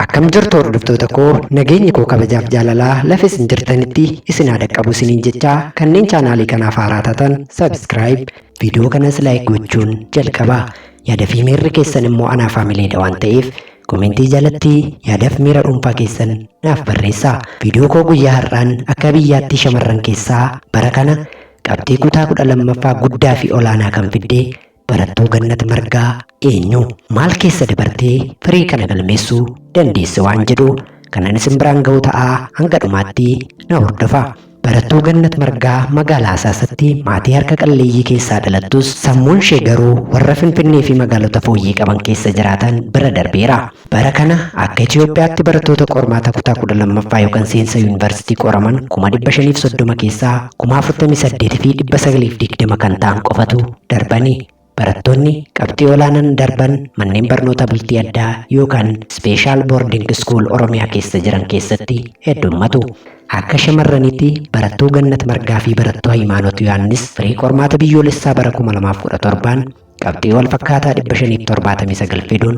Akkam jirtu hordoftoota koo nageenyi koo kabajaaf jaalalaa lafa isin jirtanitti isin haa dhaqqabu isiniin jechaa kanneen chaanaalii kanaaf haaraa taatan subscribe viidiyoo kanas like gochuun jalqabaa yaada fi miirri keessan immoo anaa faamileedha waan ta'eef komentii jalatti yaadaaf miira dhuunfaa keessan naaf barreessaa viidiyoo koo guyyaa har'aan akka biyyaatti shamarran keessaa bara kana qabxii kutaa kudha lammaffaa guddaa fi olaanaa kan fidde Barattuu Gannat Margaa eenyu? Maal keessa dabartee firii kana galmeessuu dandeesse waan jedhu kanan isin biraan ga'u ta'a hanga dhumaatti na hordofa. Barattuu Gannat Margaa magaalaa Hasaasatti maatii harka qalleeyyii keessaa dhalattus sammuun ishee garuu warra Finfinnee fi magaalota fooyyee qaban keessa jiraatan bira darbeera. Bara kana akka Itiyoophiyaatti barattoota qormaata kutaa 12ffaa yookan seensa yuunivarsiitii qoraman kuma 530 keessaa kuma 48 fi 920 kan ta'an qofatu darbani. Barattoonni qabxii olaanaan darban manneen barnoota bultii addaa yookan Special Boarding School Oromiyaa keessa jiran keessatti heddummatu. Akka shamarraniitti barattuu Gannat Margaa fi barattuu Hayimaanot Yohaannis firii qormaata biyyoolessaa bara 2017n qabxii wal fakkaataa 579 fiduun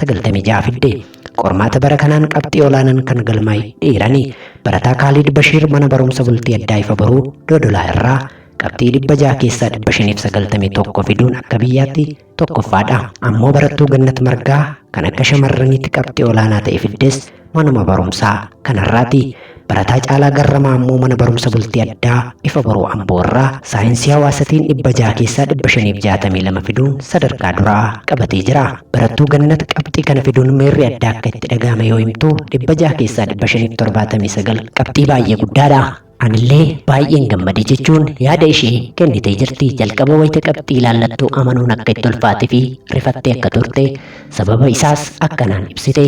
96 fidde. Qormaata bara kanaan qabxii olaanaan kan galmaa'e dhiirani barataa Kaaliid Bashiir mana barumsa bultii addaa ifa boruu Dodolaa irraa qabxii 600 keessaa 591 fiduun akka biyyaatti tokkoffaadha. Ammoo barattuu Gannat Margaa kan akka shamarraniitti qabxii olaanaa ta'e fiddes Manuma barumsaa kanarraati barataa caalaa garramaa ammoo mana barumsa bultii addaa ifa boruu amboo irraa saayinsii hawaasatiin dhibba jaha keessaa dhibba shaniif jaatamii lama fiduun sadarkaa duraa qabatee jira barattuu gannat qabxii kana fiduun meerri addaa akka itti dhagaame yoo himtu dhibba jaha keessaa dhibba shaniif torbaatamii sagal qabxii baay'ee guddaadha Anillee baay'een gammade jechuun yaada ishee kennitee jirti. Jalqaba wayita qabxii ilaallattu amanuun akka itti ulfaate fi rifattee akka turte sababa isaas akkanaan ibsite.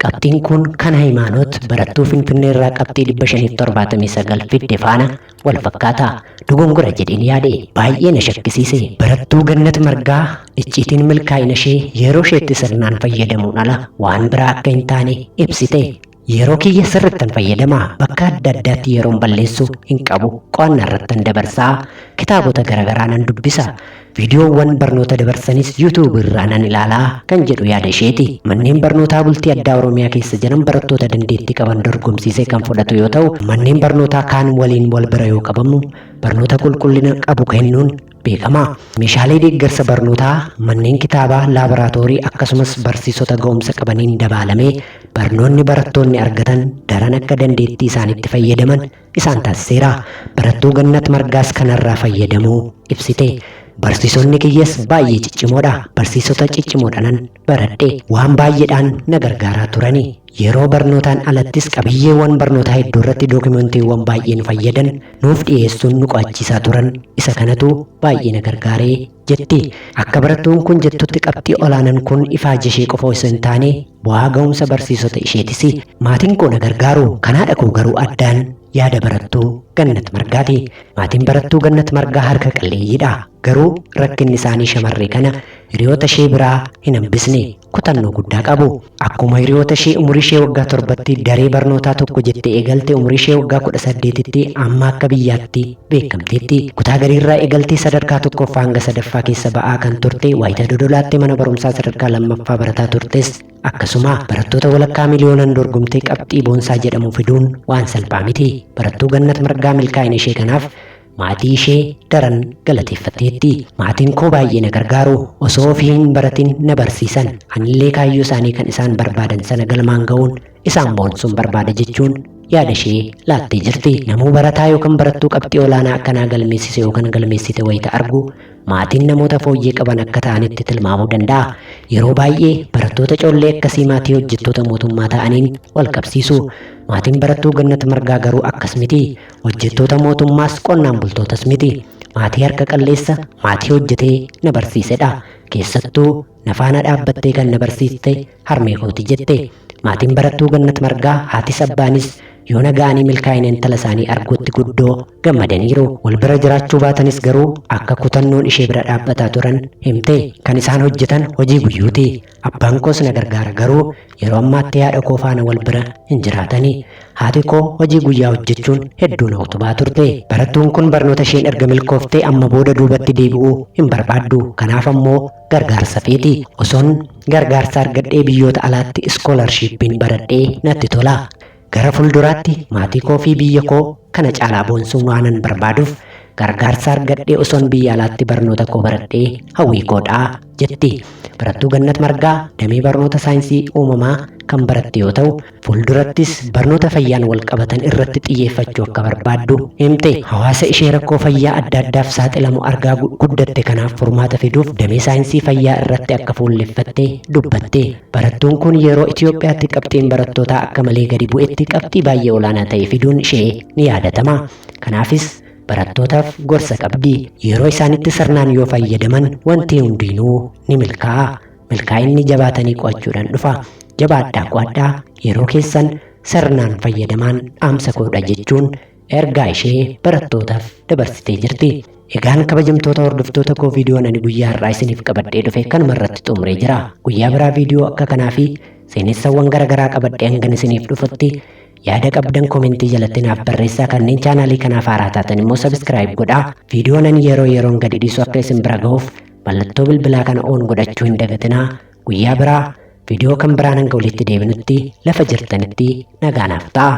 Qabxiin kun kan Hayimaanoot barattuu Finfinnee irraa qabxii 579 fidde faana wal fakkaata. Dogongora jedheen yaade baay'ee na shakkisiise. Barattuu Gannat Margaa icciitiin milkaa'ina ishee yeroo isheetti sirnaan fayyadamuun ala waan biraa akka hin taane ibsite. Yeroo kiyya sirrittan fayyadama bakka adda addaatti yeroon balleessu hin qabu qo'anna irrattan dabarsaa kitaabota garaagaraa nan dubbisa viidiyoowwan barnoota dabarsanis yuutuubii irraa nan ilaalaa kan jedhu yaada isheeti manneen barnootaa bultii addaa oromiyaa keessa jiran barattoota dandeettii qaban dorgomsiisee kan fudhatu yoo ta'u manneen barnootaa kaan waliin wal bira yoo qabamu barnoota qulqullina qabu kennuun beekamaa. Meeshaalee deeggarsa barnootaa manneen kitaabaa, laaboraatoorii akkasumas barsiisota ga'umsa qabaniin dabaalamee barnoonni barattoonni argatan daran akka dandeettii isaanitti fayyadaman isaan taasiseera. Barattuu Gannat Margaas kanarraa fayyadamuu ibsite. Barsiisonni kiyyas baay'ee ciccimoodha. Barsiisota ciccimoodhanan baradhe. Waan baay'eedhaan na gargaaraa turani. Yeroo barnootaan alattis qabiyyeewwan barnootaa hedduu irratti dookimantiiwwan baay'ee nu fayyadan nuuf dhiyeessuun nu qo'achiisaa turan. Isa kanatu baay'ee na gargaare, jetti. Akka barattuun kun jettutti qabxii olaanaan kun ifaajee ishee qofa osoo hin taane bu'aa ga'umsa barsiisota isheetisi. Maatiin koo na gargaaru, kan haadha koo garuu addaan, yaada barattuu Gannat Margaati. Maatiin barattuu Gannat Margaa harka qalleeyyiidha. Garuu rakkinni isaanii shamarree kana hiriyoota ishee biraa hin hambisne. Kutannoo guddaa qabu. Akkuma hiriyoota ishee umurii ishee waggaa torbatti daree barnootaa tokko jettee eegalte umurii ishee waggaa kudha saddeetitti amma akka biyyaatti beekamteetti. Kutaa gariirraa eegaltee sadarkaa tokkoffaa hanga sadaffaa keessa ba'aa kan turte waayita dodolaattee mana barumsaa sadarkaa lammaffaa barataa turtes akkasuma barattoota walakkaa miliyoonaan dorgomtee qabxii boonsaa jedhamu fiduun waan salphaa miti. Barattuu Gannat Margaa milkaa'ina ishee kanaaf maatii ishee daran galateeffatteetti. Maatiin koo baay'ee na gargaaru. Osoo ofii hin baratin na barsiisan. Anillee kaayyoo isaanii kan isaan barbaadan sana galmaan ga'uun isaan boonsuun barbaada jechuun yaada ishee laattee jirti. Namuu barataa yookaan barattuu qabxii olaanaa akkanaa galmeessise yookaan galmeessite wayita argu maatiin namoota fooyyee qaban akka ta'anitti tilmaamuu danda'a. Yeroo baay'ee barattoota coollee akkasii maatii hojjettoota mootummaa ta'aniin wal qabsiisu. Maatiin barattuu Gannat Margaa garuu akkas miti. Hojjettoota mootummaas qonnaan bultootas miti. Maatii harka qalleessa maatii hojjetee na barsiisedha. Keessattuu na faana dhaabbattee kan na barsiiste harmee kooti jette. Maatiin barattuu Gannat Margaa haatis abbaanis yoo na ga'anii milkaa'ina intala isaanii arguutti guddoo gammadaniiru. Wal bira jiraachuu baatanis garuu akka kutannoon ishee bira dhaabbataa turan himte. Kan isaan hojjetan hojii guyyuuti. Abbaan koos na gargaara garuu yeroo ammaatti haadha koo faana wal bira hin jiraatani. Haati koo hojii guyyaa hojjechuun hedduu na utubaa turte. Barattuun kun barnoota isheen erga milkooftee amma booda duubatti deebi'uu hin barbaaddu. Kanaaf ammoo gargaarsa feeti. Osoon gargaarsa argadhee biyyoota alaatti iskoolarshiippiin baradhee natti tola. Gara fulduraatti maatii koo fi biyya koo kana caalaa boonsuun waanan barbaaduuf gargaarsa argadhee osoon biyya alaatti barnoota koo baradhee hawwii koodha, jetti barattuu Gannat Margaa damee barnoota saayinsii uumamaa kan baratte yoo ta'u, fuuldurattis barnoota fayyaan walqabatan irratti xiyyeeffachuu akka barbaaddu himte. Hawaasa ishee rakkoo fayyaa adda addaaf saaxilamu argaa guddatte kanaaf furmaata fiduuf damee saayinsii fayyaa irratti akka fuulleffatte dubbatti. Barattuun kun yeroo Itoophiyaatti qabxiin barattootaa akka malee gadi bu'etti qabxii baay'ee olaanaa ta'e fiduun ishee ni yaadatama. Kanaafis barattootaaf gorsa qabdi. Yeroo isaanitti sirnaan yoo fayyadaman wanti hundiinuu ni milkaa'a. Milkaa'inni jabaatanii qo'achuudhaan dhufa. Jabaadhaa qo'adhaa yeroo keessan sirnaan fayyadamaan dhaamsa koodha jechuun ergaa ishee barattootaaf dabarsitee jirti. Egaan kabajamtoota hordoftoota koo viidiyoon ani guyyaa har'aa isiniif qabadhee dhufe kanuma irratti xumuree jira. Guyyaa biraa viidiyoo akka kanaa fi seenessawwan gara garaa qabadhee hangan isiniif dhufutti yaada qabdan komentii jalatti naaf barreessaa kanneen chaanaalii kanaaf haaraa taatan immoo sabiskiraayib godhaa. Viidiyoon ani yeroo yeroon gadi dhiisu akka isin bira gahuuf mallattoo bilbilaa kana oon godhachuu hin dagatinaa. Guyyaa biraa viidiyoo kan biraan hanga walitti deebinutti lafa jirtanitti nagaa naaf ta'a.